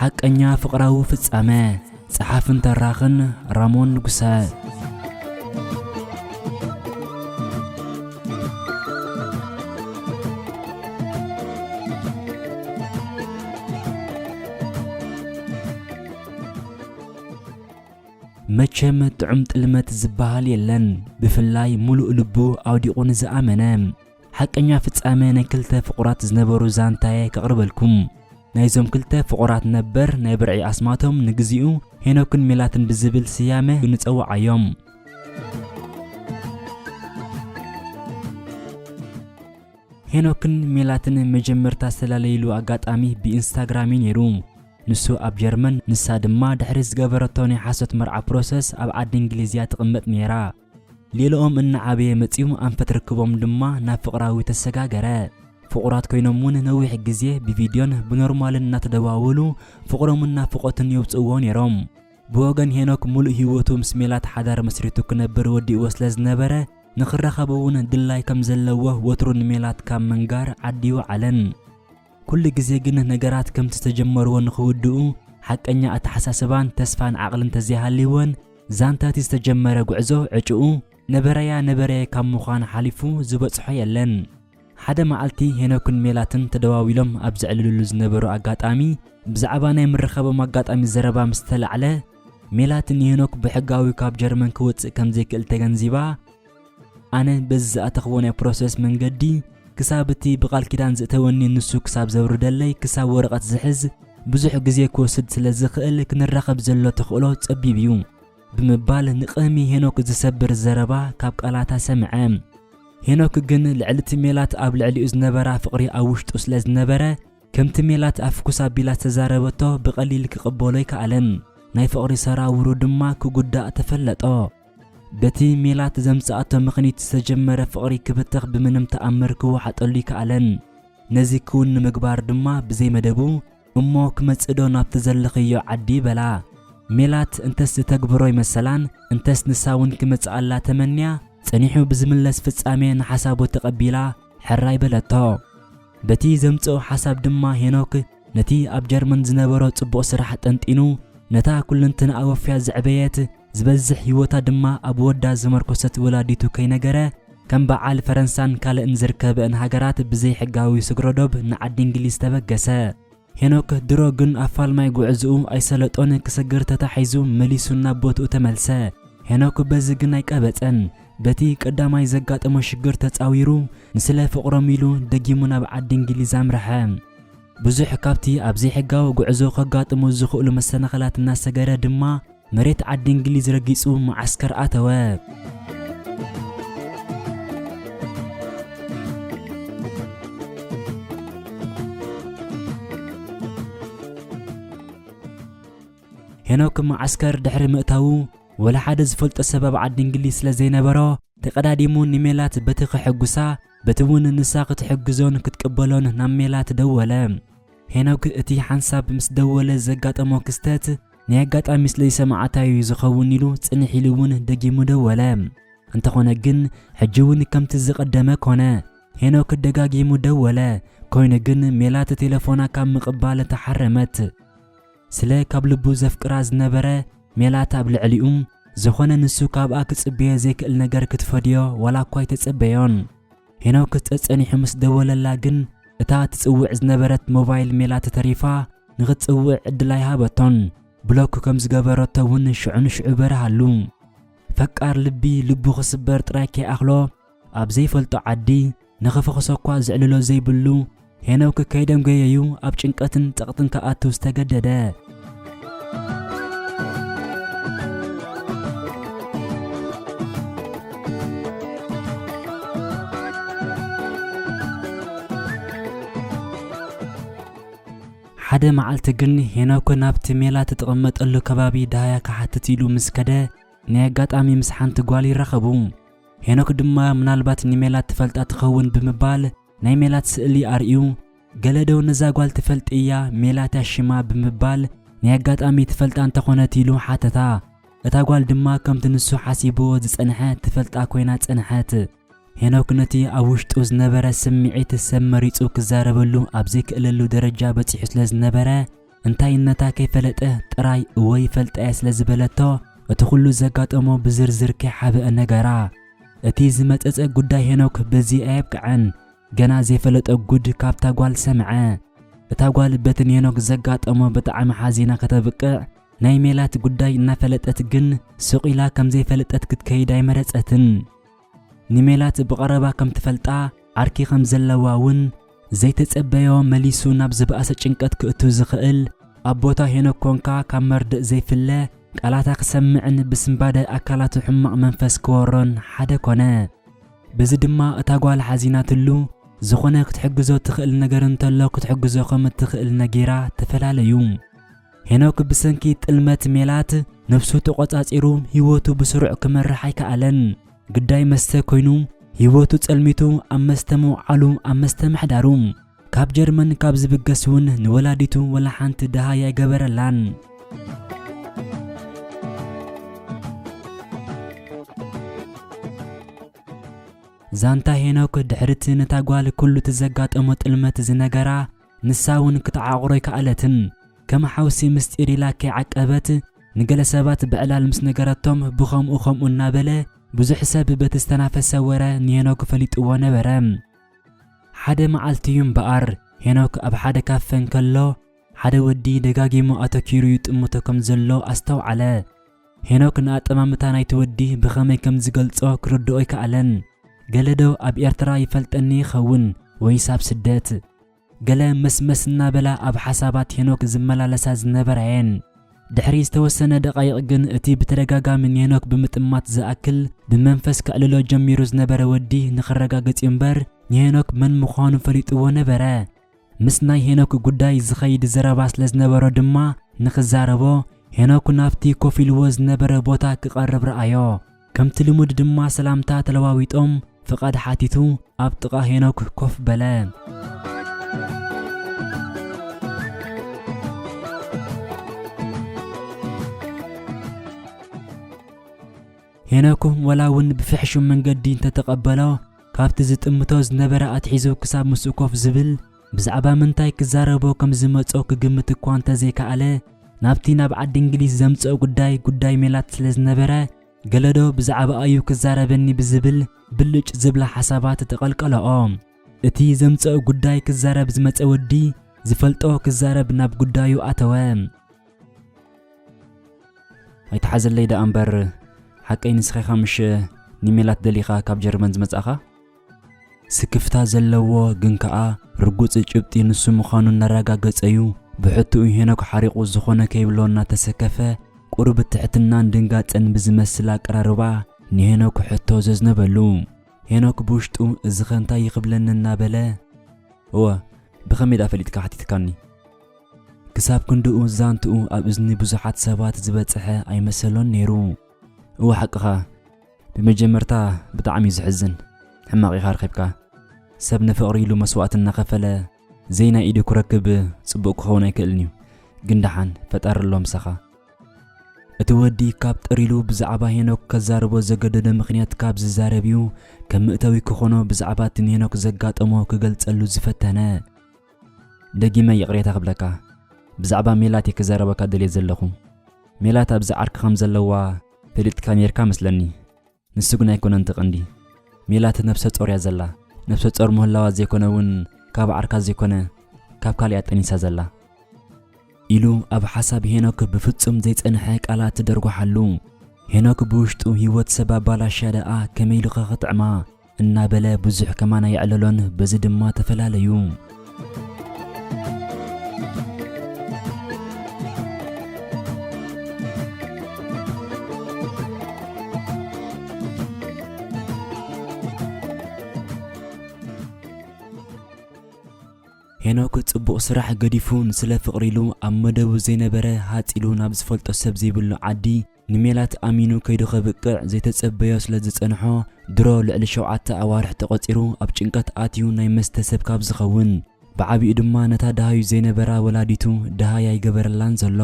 ሓቀኛ ፍቕራዊ ፍጻመ፣ ጸሓፍን ተራኽን ራሞን ንጉሰ። መቸም ጥዑም ጥልመት ዝበሃል የለን ብፍላይ ሙሉእ ልቡ ኣውዲቑ ንዝኣመነ ሓቀኛ ፍጻመ ናይ ክልተ ፍቑራት ዝነበሩ ዛንታየ ከቕርበልኩም። ናይዞም ክልተ ፍቑራት ነበር ናይ ብርዒ ኣስማቶም ንግዚኡ ሄኖክን ሜላትን ብዝብል ስያመ ንጸውዓዮም። ሄኖክን ሜላትን መጀመርታ ዝተላለይሉ ኣጋጣሚ ብኢንስታግራም እዩ ነይሩ። ንሱ ኣብ ጀርመን ንሳ ድማ ድሕሪ ዝገበረቶ ናይ ሓሶት መርዓ ፕሮሰስ ኣብ ዓዲ እንግሊዝ እያ ትቕመጥ ነይራ። ሌላኦም እናዓበየ መጺኡ ኣንፈት ርክቦም ድማ ናብ ፍቕራዊ ተሰጋገረ። ፍቑራት ኮይኖም እውን ነዊሕ ግዜ ብቪድዮን ብኖርማልን እናተደዋወሉ ፍቕሮምን ናፍቖትን የውጽእዎ ነይሮም። ብወገን ሄኖክ ምሉእ ህይወቱ ምስ ሜላት ሓዳር መስሪቱ ክነብር ወዲእዎ ስለ ዝነበረ ንኽራኸቡ እውን ድላይ ከም ዘለዎ ወትሩ ንሜላት ካብ ምንጋር ዓዲ ኣይወዓለን። ኩሉ ግዜ ግን ነገራት ከምቲ ዝተጀመርዎ ንኽውድኡ ሓቀኛ ኣተሓሳስባን ተስፋን ዓቕልን እንተዘይሃልይወን ዛንታ እቲ ዝተጀመረ ጉዕዞ ዕጭኡ ነበረያ ነበረየ ካብ ምዃን ሓሊፉ ዝበጽሖ የለን። ሓደ መዓልቲ ሄኖክን ሜላትን ተደዋዊሎም ኣብ ዘዕልልሉ ዝነበሩ ኣጋጣሚ ብዛዕባ ናይ ምርኻቦም ኣጋጣሚ ዘረባ ምስ ተላዕለ ሜላት ንሄኖክ ብሕጋዊ ካብ ጀርመን ክወጽእ ከምዘይክእል ተገንዚባ ኣነ በዚ ዝኣተኽዎ ናይ ፕሮሰስ መንገዲ ክሳብ እቲ ብቓል ኪዳን ዝእተወኒ ንሱ ክሳብ ዘውርደለይ ክሳብ ወረቐት ዝሕዝ ብዙሕ ግዜ ክወስድ ስለ ዝኽእል ክንራኸብ ዘሎ ተኽእሎ ጸቢብ እዩ ብምባል ንቕህሚ ሄኖክ ዝሰብር ዘረባ ካብ ቃላታ ሰምዐ። ሄኖክ ግን ልዕሊ እቲ ሜላት ኣብ ልዕሊኡ ዝነበራ ፍቕሪ ኣብ ውሽጡ ስለ ዝነበረ ከምቲ ሜላት ኣፍኩስ ኣቢላ ዝተዛረበቶ ብቐሊል ክቕበሎ ኣይከኣለን። ናይ ፍቕሪ ሰራውሩ ድማ ክጉዳእ ተፈለጦ። በቲ ሜላት ዘምጽኣቶ ምኽኒት ዝተጀመረ ፍቕሪ ክብተኽ ብምንም ተኣምር ክወሓጠሉ ኣይከኣለን። ነዚ ክውን ንምግባር ድማ ብዘይ መደቡ እሞ ክመጽእዶ ናብቲ ዘለኽዮ ዓዲ በላ። ሜላት እንተስ ዝተግብሮ ይመሰላን እንተስ ንሳውን ክመጽኣላ ተመንያ ጸኒሑ ብዝምለስ ፍጻሜ ንሓሳቡ ተቐቢላ ሕራይ በለቶ። በቲ ዘምጽኦ ሓሳብ ድማ ሄኖክ ነቲ ኣብ ጀርመን ዝነበሮ ጽቡቕ ስራሕ ጠንጢኑ ነታ ኩልንትንኣ ወፍያ ዘዕበየት ዝበዝሕ ህይወታ ድማ ኣብ ወዳ ዝመርኮሰት ወላዲቱ ከይነገረ ከም በዓል ፈረንሳን ካልእን ዝርከበእን ሃገራት ብዘይሕጋዊ ስግሮ ዶብ ንዓዲ እንግሊዝ ተበገሰ። ሄኖክ ድሮ ግን ኣብ ፋልማይ ጉዕዝኡ ኣይሰለጦን ክስግር ተታሒዙ መሊሱ ናብ ቦትኡ ተመልሰ። ሄኖክ በዚ ግን ኣይቀበጸን። በቲ ቀዳማይ ዘጋጠሞ ሽግር ተጻዊሩ ንስለ ፍቕሮም ኢሉ ደጊሙ ናብ ዓዲ እንግሊዝ ኣምረሐ። ብዙሕ ካብቲ ኣብ ዘይሕጋዊ ጉዕዞ ከጋጥሙ ዝኽእሉ መሰናኸላት እናሰገረ ድማ መሬት ዓዲ እንግሊዝ ረጊጹ መዓስከር ኣተወ። ሄኖክ መዓስከር ድሕሪ ምእታዉ ወላ ሓደ ዝፈልጦ ሰብ ኣብ ዓዲ እንግሊዝ ስለ ዘይነበሮ ተቐዳዲሙ ንሜላት በቲ ከሐጉሳ በቲ እውን ንሳ ክትሕግዞን ክትቅበሎን ናብ ሜላት ደወለ። ሄኖክ እቲ ሓንሳብ ምስ ደወለ ዘጋጠሞ ክስተት ናይ ኣጋጣሚ ስለዝሰምዓታ እዩ ዝኸውን ኢሉ ጽንሕ ኢሉ እውን ደጊሙ ደወለ። እንተኾነ ግን ሕጂ እውን ከምቲ ዝቐደመ ኮነ። ሄኖክ ደጋጊሙ ደወለ፣ ኮይኑ ግን ሜላት ቴለፎና ካብ ምቕባል ተሓረመት። ስለ ካብ ልቡ ዘፍቅራ ዝነበረ ሜላት ኣብ ልዕሊኡ ዝኾነ ንሱ ካብኣ ክጽበዮ ዘይክእል ነገር ክትፈድዮ ዋላ እኳ ኣይተጸበዮን። ሄኖክ ጸጸኒሑ ምስ ደወለላ ግን እታ ትጽውዕ ዝነበረት ሞባይል ሜላት ተሪፋ ንኽትጽውዕ ዕድል ኣይሃበቶን። ብሎክ ከም ዝገበረቶ እውን ሽዑ ንሽዑ በርሃሉ። ፈቃር ልቢ ልቡ ክስበር ጥራይ ከይኣኽሎ ኣብ ዘይፈልጦ ዓዲ ንኽፍኹሰኳ ዝዕልሎ ዘይብሉ ሄኖክ ከይደም ገየዩ ኣብ ጭንቀትን ጸቕጥን ክኣቱ ዝተገደደ። ሓደ መዓልቲ ግን ሄኖክ ናብቲ ሜላ ትጥቐመጠሉ ከባቢ ደሃያ ክሓትት ኢሉ ምስ ከደ ናይ ኣጋጣሚ ምስ ሓንቲ ጓል ይራኸቡ። ሄኖክ ድማ ምናልባት ንሜላት ትፈልጣ ትኸውን ብምባል ናይ ሜላት ስእሊ ኣርእዩ፣ ገለ ዶ ነዛ ጓል ትፈልጥያ ሜላት'ያ ሽማ ብምባል ናይ ኣጋጣሚ ትፈልጣ እንተኾነት ኢሉ ሓተታ። እታ ጓል ድማ ከምቲ ንሱ ሓሲብዎ ዝጸንሐ ትፈልጣ ኮይና ጸንሐት። ሄኖክ ነቲ ኣብ ውሽጡ ዝነበረ ስምዒት ሰብ መሪጹ ክዛረበሉ ኣብ ዘይክእለሉ ደረጃ በጺሑ ስለ ዝነበረ፣ እንታይነታ ከይፈለጠ ጥራይ እወ ይፈልጣ'የ ስለ ዝበለቶ እቲ ኩሉ ዘጋጠሞ ብዝርዝር ከይሓበአ ነገራ። እቲ ዝመጸጸ ጉዳይ ሄኖክ በዚ ኣየብቅዐን ገና ዘይፈለጦ ጉድ ካብታ ጓል ሰምዐ። እታ ጓል በቲ ንሄኖክ ዘጋጠሞ ብጣዕሚ ሓዚና ከተብቅዕ ናይ ሜላት ጉዳይ እናፈለጠት ግን ሱቕ ኢላ ከምዘይፈለጠት ክትከይድ ኣይመረጸትን። ንሜላት ብቐረባ ከም ትፈልጣ ዓርኪ ከም ዘለዋ እውን ዘይተጸበዮ መሊሱ ናብ ዝበኣሰ ጭንቀት ክእቱ ዝኽእል ኣብ ቦታ ሄኖክ ኮንካ ካብ መርድእ ዘይፍለ ቃላታ ክሰምዕን ብስንባደ ኣካላቱ ሕማቕ መንፈስ ክወሮን ሓደ ኮነ። በዚ ድማ እታ ጓል ሓዚናትሉ ዝኾነ ክትሕግዞ ትኽእል ነገር እንተሎ ክትሕግዞ ከም እትኽእል ነጊራ ተፈላለዩ። ሄኖክ ብሰንኪ ጥልመት ሜላት ነብሱ ተቖጻጺሩ ህይወቱ ብስሩዕ ክመርሕ ኣይከኣለን። ግዳይ መስተ ኮይኑ ህይወቱ ጸልሚቱ ኣብ መስተ ምውዓሉ ኣብ መስተ ምሕዳሩ ካብ ጀርመን ካብ ዝብገስ እውን ንወላዲቱ ወላ ሓንቲ ደሃይ ኣይገበረላን። ዛንታ ሄኖክ ድሕሪ እቲ ነታ ጓል ኩሉ እቲ ዘጋጠሞ ጥልመት ዝነገራ ንሳ እውን ክትዓቑሮ ኣይከኣለትን። ከም ሓውሲ ምስጢር ኢላ ከይዓቀበት ንገለ ሰባት ብዕላል ምስ ነገረቶም ብኸምኡ ከምኡ እናበለ ብዙሕ ሰብ በቲ ዝተናፈሰ ወረ ንሄኖክ ፈሊጥዎ ነበረ። ሓደ መዓልቲ እዩ እምበኣር ሄኖክ ኣብ ሓደ ካፈ እንከሎ ሓደ ወዲ ደጋጊሙ ኣተኲሩ ይጥምቶ ከም ዘሎ ኣስተውዓለ። ሄኖክ ንኣጠማምታ ናይቲ ወዲ ብኸመይ ከም ዝገልጾ ክርድኦ ኣይከኣለን። ገለ ዶ ኣብ ኤርትራ ይፈልጠኒ ይኸውን ወይስ ኣብ ስደት? ገለ መስመስ እናበላ ኣብ ሓሳባት ሄኖክ ዝመላለሳ ዝነበራ'የን። ድሕሪ ዝተወሰነ ደቓይቕ ግን እቲ ብተደጋጋሚ ንሄኖክ ብምጥማት ዝኣክል ብመንፈስ ከዕልሎ ጀሚሩ ዝነበረ ወዲ ንኸረጋግጽ'ዩ እምበር ንሄኖክ መን ምዃኑ ፈሊጥዎ ነበረ። ምስ ናይ ሄኖክ ጉዳይ ዝኸይድ ዘረባ ስለ ዝነበሮ ድማ ንኽዛረቦ ሄኖክ ናብቲ ኮፍ ኢልዎ ዝነበረ ቦታ ክቐርብ ረኣዮ። ከምቲ ልሙድ ድማ ሰላምታ ተለዋዊጦም ፍቓድ ሓቲቱ ኣብ ጥቓ ሄኖክ ኮፍ በለ። ሄኖክ ወላ እውን ብፍሕሹም መንገዲ እንተተቐበሎ ካብቲ ዝጥምቶ ዝነበረ ኣትሒዙ ክሳብ ምስኡ ኮፍ ዝብል ብዛዕባ ምንታይ ክዛረቦ ከም ዝመጾ ክግምት እኳ እንተ ዘይከኣለ፣ ናብቲ ናብ ዓዲ እንግሊዝ ዘምጽኦ ጉዳይ፣ ጉዳይ ሜላት ስለ ዝነበረ፣ ገለዶ ብዛዕባኣ'ዩ ክዛረበኒ ብዝብል ብልጭ ዝብላ ሓሳባት ተቐልቀለኦ። እቲ ዘምጽኦ ጉዳይ ክዛረብ ዝመጸ ወዲ ዝፈልጦ ክዛረብ ናብ ጉዳዩ ኣተወ። ኣይትሓዘለይ ደኣ እምበር ሓቀይ ንስኻ ኢኻ ምሽ ንሜላት ደሊኻ ካብ ጀርመን ዝመጻእኻ ስክፍታ ዘለዎ ግን ከኣ ርጉጽ ጭብጢ ንሱ ምዃኑ እናረጋገጸዩ ብሕትኡ ሄኖክ ሓሪቑ ዝኾነ ከይብሎ እናተሰከፈ ቁሩብ ትሕትናን ድንጋጸን ብዝመስል ኣቀራርባ ንሄኖክ ሕቶ ዘዝነበሉ ሄኖክ ብውሽጡ እዚኸ እንታይ ይኽብለኒ እናበለ እወ ብኸመይ ደኣ ፈሊጥካ ሓቲትካኒ ክሳብ ክንድኡ ዛንትኡ ኣብ እዝኒ ብዙሓት ሰባት ዝበጽሐ ኣይመሰሎን ነይሩ። እወ ሓቅኻ ብመጀመርታ ብጣዕሚ እዩ ዝሕዝን ሕማቕ ኢኻ ረኺብካ ሰብ ንፍቕሪ ኢሉ መስዋእቲ እናኸፈለ ዘይናይ ኢዱ ክረክብ ጽቡቕ ክኸውን ኣይክእልን እዩ ግን ደሓን ፈጣሪ ኣሎ ምሳኻ እቲ ወዲ ካብ ጥሪሉ ብዛዕባ ሄኖክ ከዛርቦ ዘገደደ ምክንያት ካብ ዝዛረብ እዩ ከም ምእተዊ ክኾኖ ብዛዕባ እቲ ንሄኖክ ዘጋጠሞ ክገልጸሉ ዝፈተነ ደጊመ ይቕሬታ ክብለካ ብዛዕባ ሜላት እየ ክዛረበካ ደልየ ዘለኹ ሜላት ኣብዚ ዓርኪ ከም ዘለዋ ፈሊጥካ ኔርካ መስለኒ ንሱ ግን ኣይኮነን ትቐንዲ ሜላት ነብሰ ጾር እያ ዘላ ነብሰ ጾር ምህላዋ ዘይኮነ እውን ካብ ዓርካ ዘይኮነ ካብ ካልእ እያ ጠኒሳ ዘላ ኢሉ ኣብ ሓሳብ ሄኖክ ብፍጹም ዘይጸንሐ ቃላት ትደርጓሓሉ ሄኖክ ብውሽጡ ህይወት ሰብ ኣባላሽያ ደኣ ከመይ ኢሉኸ ክጥዕማ እናበለ ብዙሕ ከማን ኣየዕለሎን። በዚ ድማ ተፈላለዩ። ሄኖክ ጽቡቕ ስራሕ ገዲፉ ንስለ ፍቕሪ ኢሉ ኣብ መደቡ ዘይነበረ ሃጽ ኢሉ ናብ ዝፈልጦ ሰብ ዘይብሉ ዓዲ ንሜላት ኣሚኑ ከይዱ ከብቅዕ ዘይተጸበዮ ስለ ዝጸንሖ፣ ድሮ ልዕሊ ሸውዓተ ኣዋርሕ ተቖጺሩ ኣብ ጭንቀት ኣትዩ ናይ መስተ ሰብ ካብ ዝኸውን፣ ብዓቢኡ ድማ ነታ ደሃዩ ዘይነበራ ወላዲቱ ደሃይ ኣይገበረላን ዘሎ።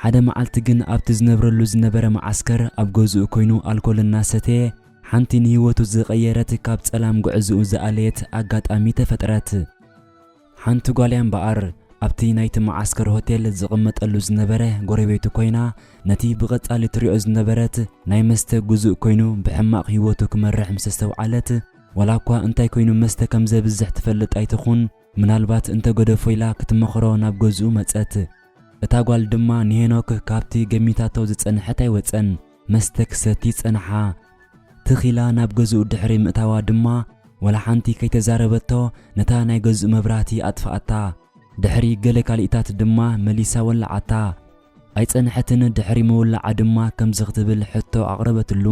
ሓደ መዓልቲ ግን ኣብቲ ዝነብረሉ ዝነበረ መዓስከር ኣብ ገዝኡ ኮይኑ ኣልኮል እናሰተየ፣ ሓንቲ ንህይወቱ ዝቐየረት ካብ ጸላም ጉዕዝኡ ዝኣለየት ኣጋጣሚ ተፈጥረት። ሓንቲ ጓል'ያ እምበኣር፣ ኣብቲ ናይቲ መዓስከር ሆቴል ዝቕመጠሉ ዝነበረ ጎረቤቱ ኰይና፣ ነቲ ብቐጻሊ ትሪኦ ዝነበረት ናይ መስተ ግዙእ ኰይኑ ብሕማቕ ህይወቱ ክመርሕ ምስ ኣስተውዓለት፣ ዋላ'ኳ እንታይ ኰይኑ መስተ ከም ዘብዝሕ ትፈልጥ ኣይትኹን፣ ምናልባት እንተ ገደፎ ኢላ ክትመኽሮ ናብ ገዝኡ መጸት። እታ ጓል ድማ ንሄኖክ ካብቲ ገሚታቶ ዝጸንሐት ኣይወጸን፣ መስተ ክሰቲ ጸንሓ። ትኽ ኢላ ናብ ገዝኡ ድሕሪ ምእታዋ ድማ ዋላ ሓንቲ ከይተዛረበቶ ነታ ናይ ገዝኡ መብራህቲ ኣጥፍኣታ። ድሕሪ ገለ ካልኢታት ድማ መሊሳ ወልዓታ። ኣይጸንሐትን ድሕሪ ምውላዓ ድማ ከምዚ ክትብል ሕቶ ኣቕረበትሉ።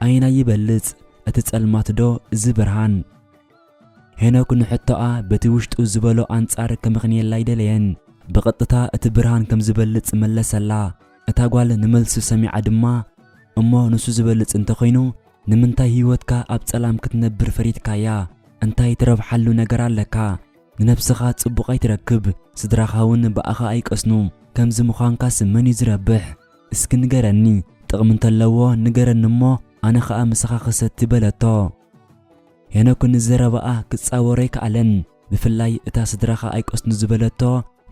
ኣየናይ ይበልጽ እቲ ጸልማት ዶ እዚ ብርሃን? ሄኖክ ንሕቶኣ በቲ ውሽጡ ዝበሎ ኣንጻር ከምኽንየላ ኣይደለየን። ብቐጥታ እቲ ብርሃን ከምዝበልጽ መለሰላ። እታ ጓል ንመልሲ ሰሚዓ ድማ፣ እሞ ንሱ ዚበልጽ እንተ ዀይኑ፣ ንምንታይ ህይወትካ ኣብ ጸላም ክትነብር ፈሪድካያ? እንታይ ትረብሓሉ ነገር ኣለካ? ንነብስኻ ጽቡቕ ኣይትረክብ፣ ስድራኻውን ብኣኻ ኣይቀስኑ። ከምዚ ምዃንካስ መን እዩ ዚረብሕ? እስኪ ንገረኒ፣ ጥቕሚ እንተ ኣለዎ ንገረኒ እሞ፣ ኣነ ኸኣ ምሳኻ ኽሰቲ በለቶ። ሄኖክ ንዘረባኣ ኪጻወሮ ኣይከኣለን። ብፍላይ እታ ስድራኻ ኣይቀስኑ ዝበለቶ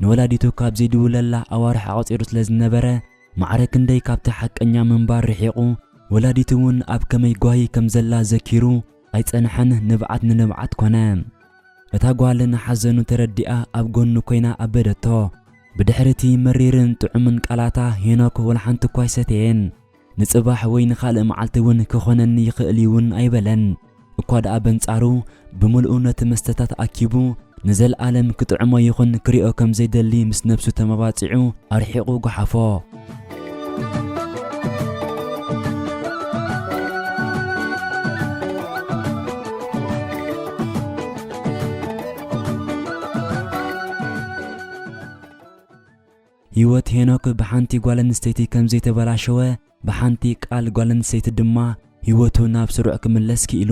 ንወላዲቱ ካብ ዘይድውለላ ኣዋርሕ ኣቐጺሩ ስለ ዝነበረ ማዕረ ክንደይ ካብቲ ሓቀኛ ምንባር ርሒቑ ወላዲቱ ውን ኣብ ከመይ ጓሂ ከም ዘላ ዘኪሩ ኣይጸንሐን ንብዓት ንንብዓት ኮነ እታ ጓል ንሓዘኑ ተረዲኣ ኣብ ጎኑ ኮይና ኣበደቶ። ብድሕሪ እቲ መሪርን ጥዑምን ቃላታ ሄኖክ ወላሓንቲ እኳ ኣይሰተየን። ንጽባሕ ወይ ንኻልእ መዓልቲ እውን ክኾነኒ ይኽእል እዩ እውን ኣይበለን። እኳ ደኣ በንጻሩ ብምልኡ ነቲ መስተታት ኣኪቡ ንዘልኣለም ክጥዕሞ ይኹን ክሪኦ ከም ዘይደሊ ምስ ነብሱ ተመባጺዑ ኣርሒቑ ጎሓፎ። ህይወት ሄኖክ ብሓንቲ ጓል ኣንስተይቲ ከም ዘይተበላሸወ፣ ብሓንቲ ቃል ጓል ኣንስተይቲ ድማ ህይወቱ ናብ ስሩዕ ክምለስ ክኢሉ።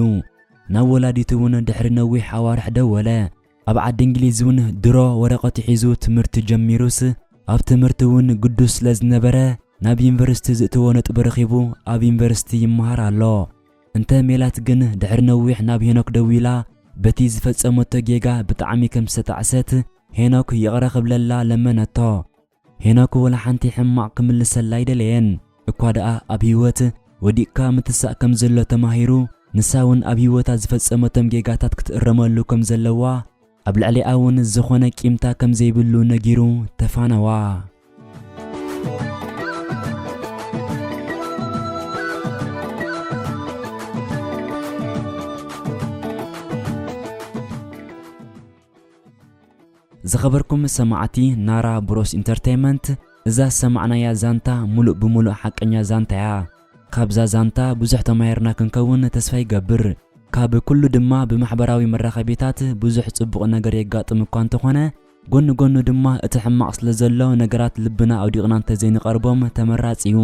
ናብ ወላዲቱ እውን ድሕሪ ነዊሕ ኣዋርሕ ደወለ። ኣብ ዓዲ እንግሊዝ እውን ድሮ ወረቐቱ ሒዙ ትምህርቲ ጀሚሩስ፣ ኣብ ትምህርቲ እውን ግዱስ ስለ ዝነበረ፣ ናብ ዩኒቨርሲቲ ዝእትዎ ነጥቢ ረኺቡ ኣብ ዩኒቨርሲቲ ይመሃር ኣሎ። እንተ ሜላት ግን ድሕሪ ነዊሕ ናብ ሄኖክ ደዊላ በቲ ዝፈጸመቶ ጌጋ ብጣዕሚ ከም ዝተጣዕሰት ሄኖክ ይቕረ ክብለላ ለመነቶ። ሄኖክ ወላ ሓንቲ ሕማቕ ክምልሰላ ኣይደለየን። እኳ ደኣ ኣብ ህይወት ወዲቕካ ምትሳእ ከም ዘሎ ተማሂሩ ንሳ ውን ኣብ ህይወታ ዝፈጸመቶም ጌጋታት ክትእረመሉ ከም ዘለዋ ኣብ ልዕሊኣ እውን ዝኾነ ቂምታ ከም ዘይብሉ ነጊሩ ተፋነዋ። ዝኸበርኩም ሰማዕቲ ናራ ብሮስ ኢንተርተይመንት እዛ ዝሰማዕናያ ዛንታ ሙሉእ ብሙሉእ ሓቀኛ ዛንታ እያ። ካብዛ ዛንታ ብዙሕ ተማሂርና ክንከውን ተስፋ ይገብር። ካብ ኩሉ ድማ ብማሕበራዊ መራኸቢታት ብዙሕ ጽቡቕ ነገር የጋጥም እኳ እንተኾነ ጎኒ ጎኑ ድማ እቲ ሕማቕ ስለ ዘሎ ነገራት ልብና ኣውዲቕና እንተዘይንቐርቦም ተመራጺ እዩ።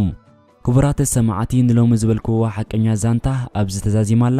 ክቡራት ሰማዕቲ ንሎሚ ዝበልክዋ ሓቀኛ ዛንታ ኣብዚ ተዛዚማ ኣላ።